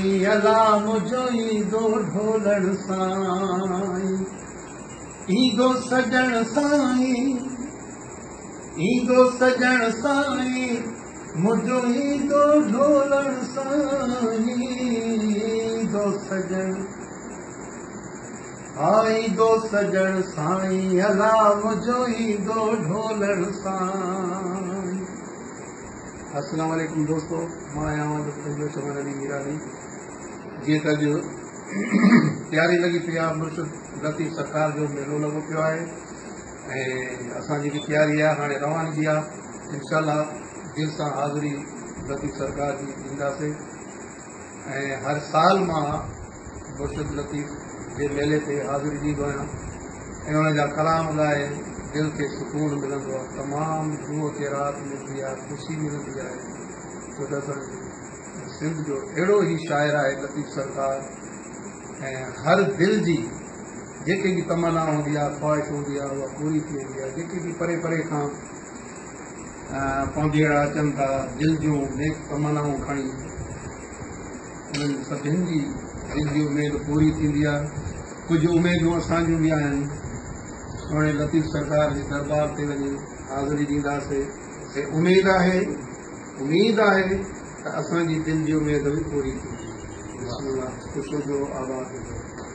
اي الا منهنجو ايندو ڍولڻ سائين ايندو سڄڻ سائين ايندو سڄڻ سائين منهنجو ايندو ڍولڻ سائين ايندو سڄڻ آ ايندو سڄڻ سائين الا منهنجو ايندو ڍولڻ سائين السلام عليڪم دوستو مان آهيان اوهان جو پنهنجو چمن علي ميراني جيئن ته اڄ تياري لڳي پئي آهي مرشد لطيف سرڪار جو ميلو لڳو پيو آهي ۽ اسان جيڪي تياري آهي هاڻي روانگي آهي انشاء الله دل سان حاضري لطيف سرڪار جي ڏينداسين ۽ هر سال مان مرشد لطيف جي ميلي تي حاضر ڏيندو آهيان ۽ ان جا ڪلام ڳائي دل کي سڪون ملندو آهي تمام روح کي راحت ملندي آهي خوشي ملندي آهي ڇو ته اسان جي سنڌ جو اهڙو هي شاعر آهي لطيف سرڪار ۽ هر دل جي جيڪي به تمنا هوندي آهي خواهش هوندي آهي اها پوري ٿي ويندي آهي جيڪي به پري پري کان پونجيئڙا اچن ٿا دل جون نيڪ تمنائون کڻي انهن سڀني جي دلجي اميد پوري ٿيندي آ. ڪجهه اميدون اسان جون به آهن. سهڻي لطيف سرڪار جي درٻار تي وڃي حاضري ڏينداسي. هي اميد آهي، اميد آهي ته اسان جي دل جي اميد به پوري ٿيندي. بسم الله. خوش هجو، آباد هجو.